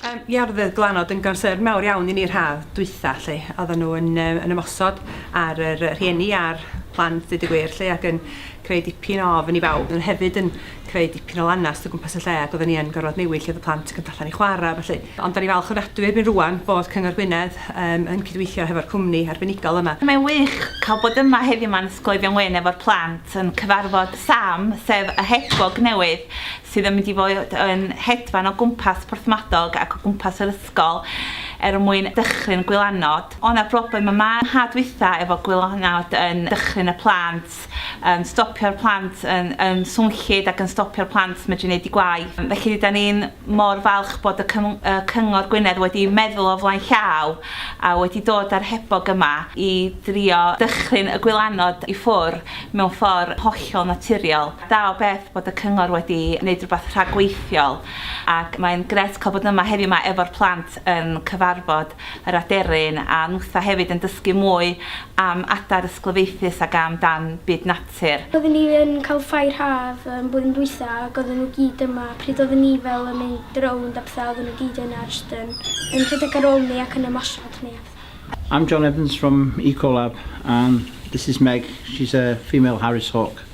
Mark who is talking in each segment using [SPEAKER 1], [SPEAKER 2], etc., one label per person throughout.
[SPEAKER 1] Yym ia roedd Glanod yn gonsern mawr iawn i ni yr haf dwytha lly, oedden nhw yn yy yn ymosod ar yr yy rhieni a'r plant deud y gwir lly ac yn creu dipyn o ofn i bawb, oedden nhw hefyd yn creu dipyn o lanast o gwmpas y lle ac oedden ni yn gorfod newid lle oedd y plant yn mynd allan i chwarae a ballu. Ond dan ni'n falch ofnadwy erbyn rŵan bod Cyngor Gwynedd yym yn cydweithio hefo'r cwmni arbenigol yma. Mae'n wych cael
[SPEAKER 2] bod yma heddiw 'ma yn Ysgol Eifion Wyn efo'r plant yn cyfarfod Sam sef y hedfog newydd sydd yn mynd i fod yn hedfan o gwmpas Porthmadog ac o gwmpas yr ysgol er mwyn dychryn gwylanod. O' 'na broblem yma yn ha dwytha efo gwylanod yn dychryn y plant, yn stopio'r plant yn yn swnllyd ac yn stopio'r plant medru neud 'u gwaith. Felly rydan ni'n mor falch bod y cym- y Cyngor Gwynedd wedi meddwl o flaen llaw a wedi dod â'r hebog yma i drio dychryn y gwylanod i ffwr' mewn ffor' hollol naturiol. Da o beth bod y cyngor wedi neud rwbath rhagweithiol ac mae'n grêt cael bod yma heddiw ma efo'r plant yn cyfarfod yr aderyn a nwtha hefyd yn dysgu mwy am adar ysglyfaethus ag am dan byd natur. Oedden ni yn cael
[SPEAKER 3] ffair haf y blwyddyn dwytha ag oedden nhw gyd yma pryd oedden ni fel yn mynd rownd a petha oedden nhw gyd yna jyst yn yn rhedeg ar ôl ni ac yn ymosod ato ni a petha. I'm John Evans
[SPEAKER 4] from Ecolab and this is Meg, she's a female Harris Hawk.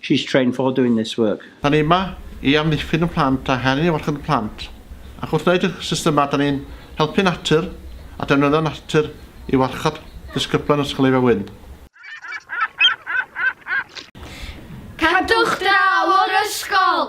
[SPEAKER 4] She's trained for doing this work. Da ni yma i
[SPEAKER 5] amddiffyn y plant a helpu i warchod y plant, ac wrth wneud y systemau da ni'n helpu natur a defnyddio natur i warchod disgyblion Ysgol Eifion Wyn. Cadwch draw o'r ysgol!